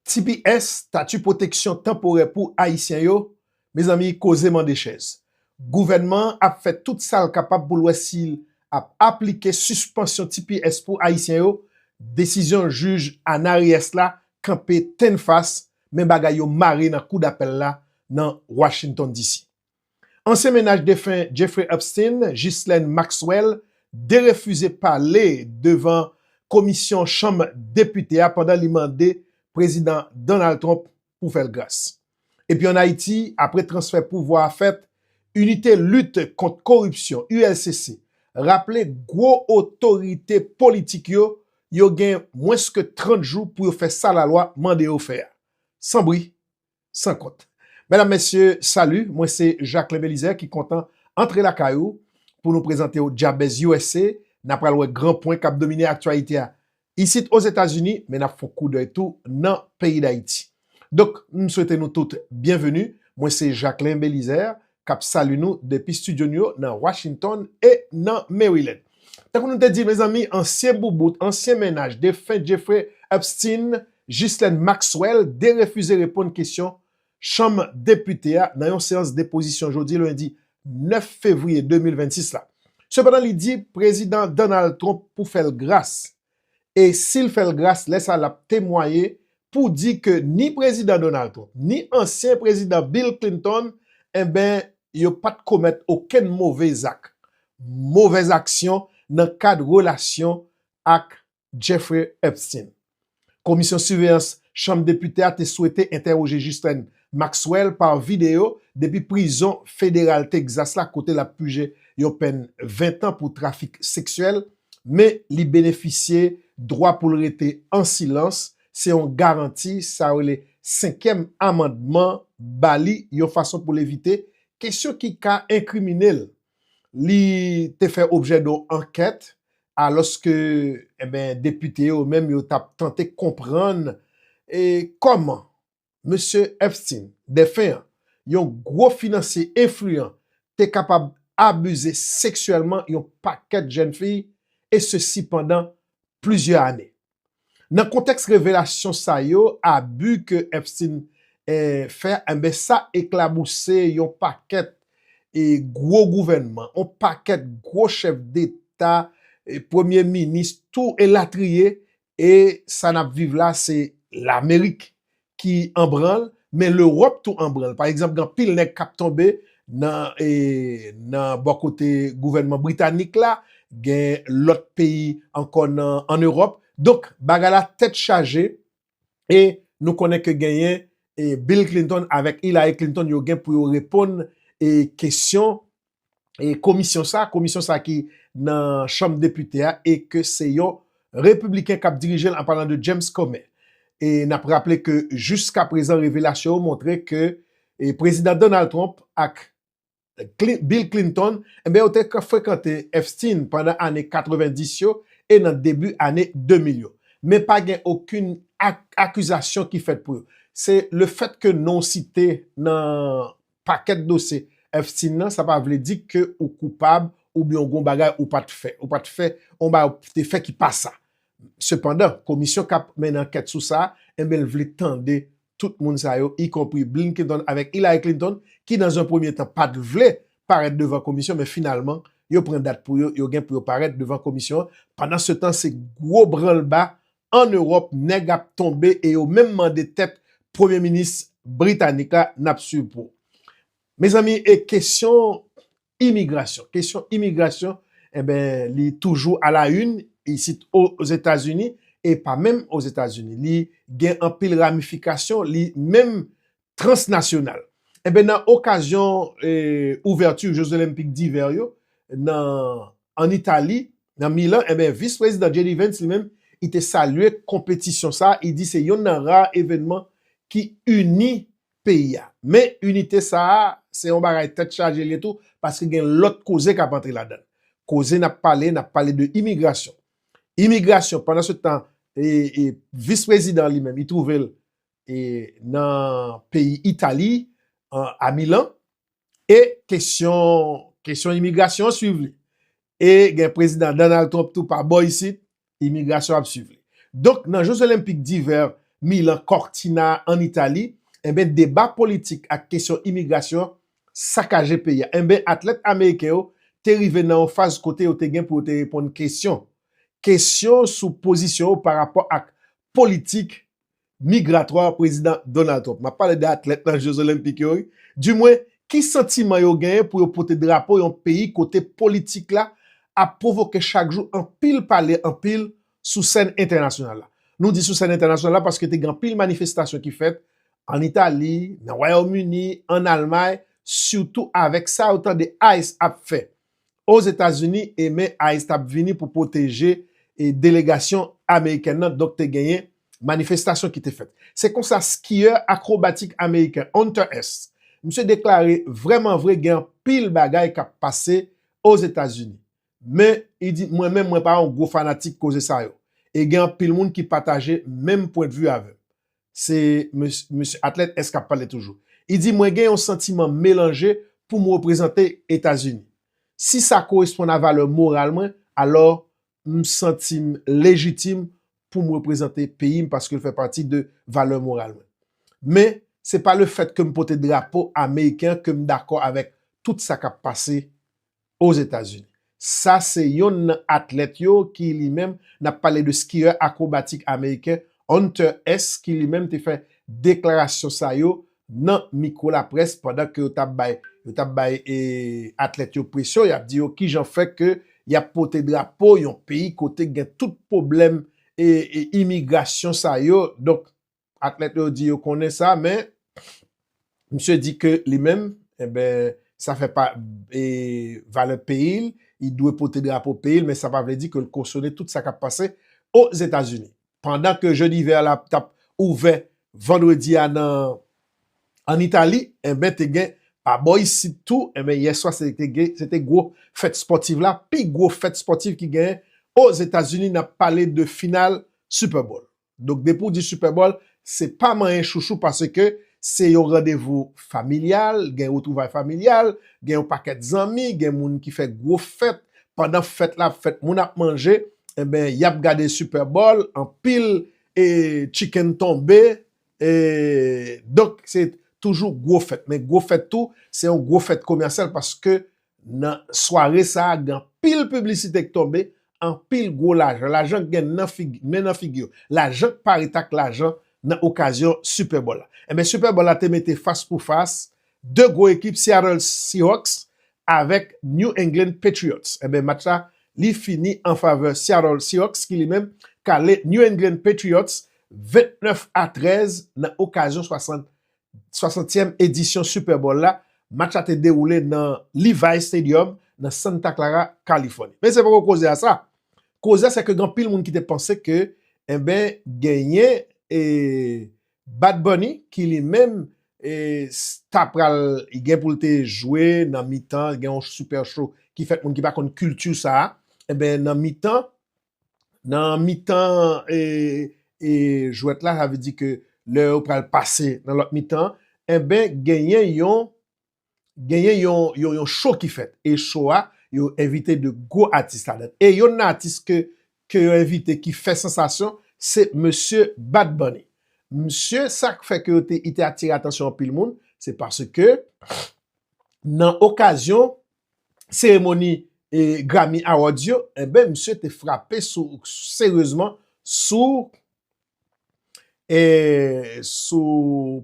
Tps, Tati Pwoteksyon Tanporè pou Ayisyen yo, Mezanmi, koze mande chèz. Gouvènman an ap fè tout sa l kapab pou l wè si l ap aplike sispansyon tps pou Ayisyen yo, desizyon jij Ana Reyes la kanpe tennfas, men bagay yo mare nan Kou Dapèl la nan Washington, DC. Ansyen menaj defen Jeffrey Epstein, Ghislaine Maxwell, derefize pale devan komisyon chanm depite a pandan li mande Prezidan Donald Trump pou fè l gras. Epi an Ayiti, apre transfè pouvwa a fèt, Inite Lit Kont Koripsyon, ULCC, raple gwo otorite politik yo yo gen mwens ke 30 jou pou yo fè sa lalwa mande yo fè a. San bri, San kont. Medam mesye salut mwen se Jacquelin Belizaire ki kontan antre lakay ou pou nou prezante w Dyabèz usa na pral wè gran pwen kap domine aktyalite a isit ozetazini men nap fon koudèy tou nan peyi dayiti donk m swete nou tout byenveni mwen se Jacquelin Belizaire kap salu nou depi studio nou yo nan Washington e nan Maryland. Tankou nou te di mezanmi ansyen boubout, ansyen mennaj defen Jeffrey Epstein, Ghislaine Maxwell derefize reponn kesyon chanm depite a nan yon seyans depozisyon jodi lendi 9 fevriye 2026 la. Sepandan li di prezidan Donald Trump pou fèl gras. e sil fèl gras lè sa lap temwaye pou di ke ni prezidan Donald Trump ni ansyen prezidan Bill Clinton enben yo pat komèt okenn move zak, movèz aksyon nan kad relasyon ak Jeffrey Epstein. Komisyon Siveyans Chanm Depite a te swete entèwoje Ghislaine Maxwell pa videyo depi prizon federal Texas la kote lap puje yon pèn 20 tan pou trafik seksyèl men li benefisye dwa pou l rete an silans, se yon garanti sa yo rele senkyèm amandman ba li yon fason pou l evite kesyon ki ka enkrimine l. Li te fè objè don ankèt alòske depite yo menm yo t ap tante konprann kòman Mesye Epstein, defen an, yon gwo finansye enfliyan, te kapab abize seksyèlman yon pakèt jèn fi, e sesi pandan plizyè ane. Nan kontèks revelasyon sa yo, abi ke Epstein fè, enben sa eklabouse yon pakèt gwo gouvènman, yon pakèt gwo chèf deta, premye minis, tou elatriye, E sa nap viv la se lamerik ki anbranl men lerop tou anbranl pa egzanp gen anpil nèg kap tonbe nan e nan bò kote gouvènman britanik la gen lòt peyi ankò nan an erop donk bagay la tèt chaje e nou konnen ke genyen e bill klintonn avèk ilary klintonn yo gen pou yo reponn e kesyon komisyon sa, komisyon sa ki nan chanm depite a e ke se yon repibliken k ap dirije l an palan de James Comer. E n ap raple ke jiska prezan revelasyon yo montre ke Prezidan Donald Trump ak Bill Clinton enben yo te frekante Epstein pandan ane 90 yo e nan debi ane 2000 yo. Men pa gen okenn akizasyon ki fèt pou yo. Se lefèt ke non site nan pakèt dosye fsin nan sa pa vle di ke ou koupab oubyen ou gon bagay ou pat fè ou pat fè on bagay ou te fè ki pa sa sepandan komisyon kap mennen ankèt sou sa enben l vle tande tout moun sa yo ikonpri Blinkenton avèk Hillary Clinton ki nan zon premye tan pat vle parèt devan komisyon men finalman yo pran dat pou yo yo gen pou yo parèt devan komisyon an pandan se tan se gwo branlba an Ewòp nèg ap tonbe e yo menm mande tèt premye minis britanik la nap swiv pou ou. Mezanmi e kesyon imigrasyon, kesyon imigrasyon enben li toujou a la une isit ozetazini e pa menm ozetazini li gen anpil ramifikasyon li menm transnasyonal. Enben nan okazyon ouvèti Jeux Olympiques d'hiver yo nan an Itali, nan Milan, enben Vis Prezidan JD Vance li menm li te salye konpetisyon sa a, li di se yonn nan ra evènman ki ini peyi a. Men inite sa a se yon bagay tèt chaje li ye tou paske gen lòt koze k ap antre ladan l. Koze n ap pale, n ap pale de imigrasyon. Imigrasyon pandan se tan Vis Prezidan li menm li twouve l e nan peyi Itali an a Milan e kesyon kesyon imigrasyon an swiv li e gen prezidan Donald Trump tou pa bò isit imigrasyon ap swiv li donk nan Jeux Olympiques d'hiver Milan Cortina an Itali enben deba politik ak kesyon imigrasyon sakaje peyi a enben atlèt ameriken yo te rive nan yon faz kote yo te gen pou yo te reponn kesyon kesyon sou pozisyon yo pa rapò ak politik migratwa Prezidan Donald Trump. M ap pale de atlèt nan je zolenpik yo wi. Di mwen, ki santiman yo genyen pou yo pote drapo yon peyi kote politik la ap pwovoke chak jou anpil pale anpil sou sèn entènasyonal la. Nou di sou sèn entènasyonal la paske te gen anpil manifestasyon ki fèt ann Itali, nan Wayòm Ini, ann Almay, sitou avèk sa yo tande ice ap fè Ozetazini e men ice t ap vini pou pwoteje delegasyon amerikèn nan, donk te genyen manifestasyon ki te fèt. Se konsa skiyè akrobatik ameriken Hunter S. Misye deklare vrèman vre gen anpil bagay k ap pase Ozetazini. Men, li di, mwen menm mwen pa yon gwo fanatik koze sa yo. E gen anpil moun ki pataje menm pwendvi avè m. Se mesye atlèt S kap pale toujou. Li di mwen gen yon santiman melanje pou m reprezante Etazini. Si sa koresponn a valè moral mwen, alò m santi m lejitim pou m reprezante peyi m paske l fè pati de valè moral mwen. Men, se pa lefèt ke m pote drapo ameriken an ke m dakò avèk tout sa kap pase Ozetazini. Sa se yonn nan atlèt yo ki li menm, n ap pale de skiyè akwobatik ameriken Hunter Hess ki li menm te fè deklarasyon sa yo nan mikwo laprès pandan ke yo t ap bay yo t ap bay atlèt yo presyon, y ap di yo kijan fè ke y ap pote drapo yon peyi kote gen tout pwoblèm imigrasyon sa yo donk. atlèt yo di yo konnen sa men misye di ke li menm eben sa fè pa e valè peyi l, li dwe pote drapo peyi l men sa pa vle di ke l kosone tout sa kap pase o Zetazini. Pandan ke je divè la tap ouvè vandredi a nan an Itali eben te gen pa bò isit tou eben yè swa se te gen se te gwo fèt spòtiv la pi gwo fèt spòtiv ki genyen o Zetazini nap pale de final Super Bowl. Donk depi w di Super Bowl, se pa manyen chouchou paske se yon randevou familyal, gen retwouvay familyal, gen yon pakèt zanmi, gen moun ki fè gwo fèt, pandan fèt la ap fèt, moun ap manje, enben y ap gade Super Bowl, anpil e chicken tonbe, e donk se toujou gwo fèt. Men gwo fèt tou, se yon gwo fèt komèsyal paske Nan sware sa a gen anpil piblisite k tonbe, anpil gwo lajan, lajan k gen nan figi, men nan figi yo, lajan k pa ret ak lajan nan okazyon Super Bowl la. Enben Super Bowl la te mete fas pou fas 2 gwo ekip Seattle Seahawks avèk New England Patriots. Enben match la li fini an favè Seattle Seahawks ki li menm kale New England Patriots 29 a 13 nan okazyon 60 60èm edisyon Super Bowl la, match la te dewoule nan Levi's Stadium nan Santa Clara, Kalifòni. Men se poko koze a sa. Koze a se ke gen anpil moun ki te panse ke enben genyen e Bad Bunny ki li menm e ta pral gen pou l te jwe nan mitan gen yon super show ki fèt moun ki pa konn culture sa a enben nan mitan nan mitan e jwèt la, sa vle di ke lè yo pral pase nan lòt mitan an, enben genyen yon, genyen yon, yon, yon cho ki fèt. E cho a, yo envite de gwo atis ladann. E yonn nan atis ke, ke yo envite ki fè sansasyon, se mesye Bad Bunny. Msye, sa k fè ke yo te, li te atire atansyon anpil moun, se paske nan okazyon seremoni Grammy Awards yo, enben misye te frape seryezman sou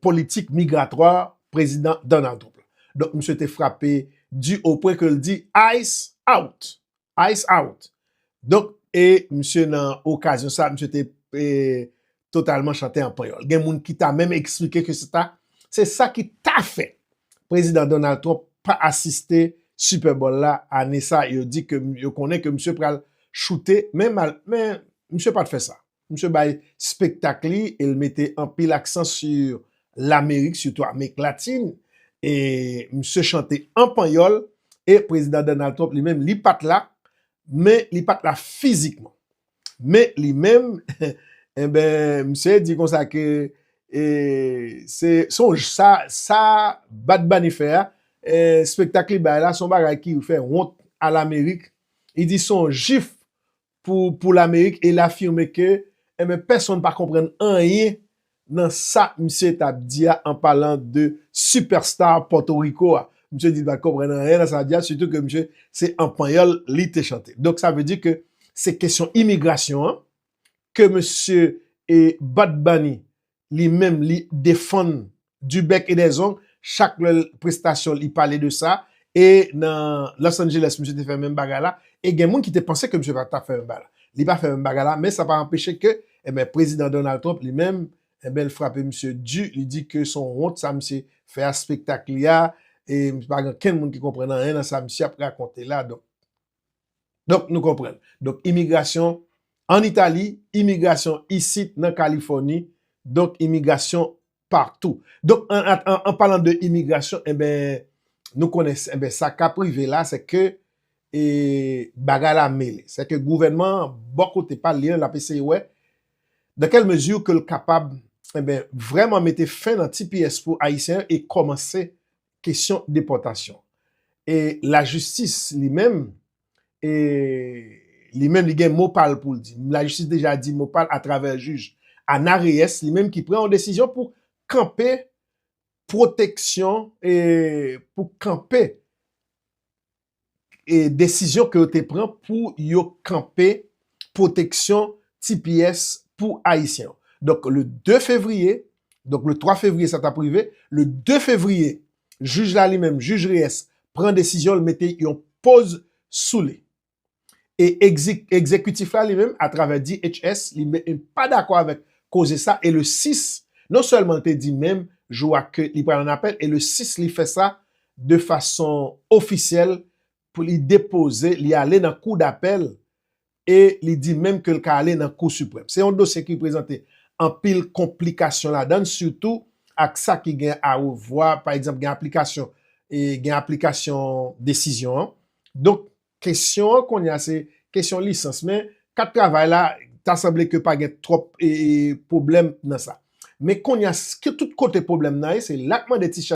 politik migratwa Prezidan Donald Trump la. Donk misye te frape di o pwen ke l di ice out. Ice out! Donk, e misye nan okazyon sa, misye te totalman chante an panyòl. Gen moun ki ta menm eksplike ke se ta, se sa ki ta fè Prezidan Donald Trump pa asiste Super Bowl la ane sa, yo di ke, yo konnen ke misye pral choute, men mal, men misye pat fè sa. Misye bay spektak li e l mete anpil aksan sur Lamerik, sitou Amerik Latin. E misye chante an panyòl e Prezidan Donald Trump li menm li pa t la, men li pa t la fizikman. Men li menm, enben misye di konsa ke e se se yon sa sa Bad Bunny fè a, e spektak li bay la se yon bagay ki fè wont a Lamerik. Li di se yon jif pou Lamerik e l afime ke enben pèsonn pa konprann anyen nan sa misye t ap di a an palan de superstar Pòtoriko a. Misye di li pa t konprann anyen nan sa l ap di a sitou ke misye se an panyòl li te chante. Donk sa vle di ke se kesyon imigrasyon an ke mesye Bad Bunny li menm li defann du bec et des ongles chak lè prestasyon li pale de sa e nan Los Angeles misye te fè menm bagay la e gen moun ki te panse ke misye pa tap fè menm bagay la li pa fè menm bagay la men sa pa anpeche ke enben prezidan Donald Trump li menm enben li frape misye du li di ke son wont sa misye fè a spektak li a e pa gen okenn moun ki konprann anyen nan sa misye ap rakonte la donk. Donk nou konprann. Donk imigrasyon an Itali, imigrasyon isit nan Kalifòni, donk imigrasyon patou. Donk an palan de imigrasyon, enben nou konnen enben sa kap rive la se ke e bagay la mele. Se ke gouvènman an bò kote pa l li an lap eseye wè dan kèl mezi ke l kapab enben vrèman mete fen nan tps pou Ayisyen e kòmanse kesyon depòtasyon. E lajistis li menm, e li menm li gen mo pal pou l di. Lajistis deja di mo pal atravè jij Ana Reyes li menm ki pran yon desizyon pou kanpe pwoteksyon e pou kanpe desizyon ke yo te pran pou yo kanpe pwoteksyon tps pou Ayisyen yo. Donk le 2 fevriye, donk le 3 fevriye sa t ap rive, le 2 fevriye, jij la li menm, jij Reyes, pran desizyon l mete yon poz sou li. E egzekitif la li menm atravè DHS li menm li pa dakò avèk koze sa e le 6 non sèlman li te di menm jou a ke li pral an apèl e le 6 li fè sa de fason ofisyèl pou li depoze li ale nan kou dapèl e li di menm ke li ka ale nan kou siprèm. Se yon dosye ki prezante anpil konplikasyon ladan l sitou ak sa ki gen a revwa pa egzanp gen aplikasyon e gen aplikasyon desizyon an donk Kesyon an kounye a se kesyon lisans men kat travay la ta sanble ke pa gen twòp pwoblèm nan sa. Men kounye a tout kote pwoblèm nan ye se la k mande ti chat.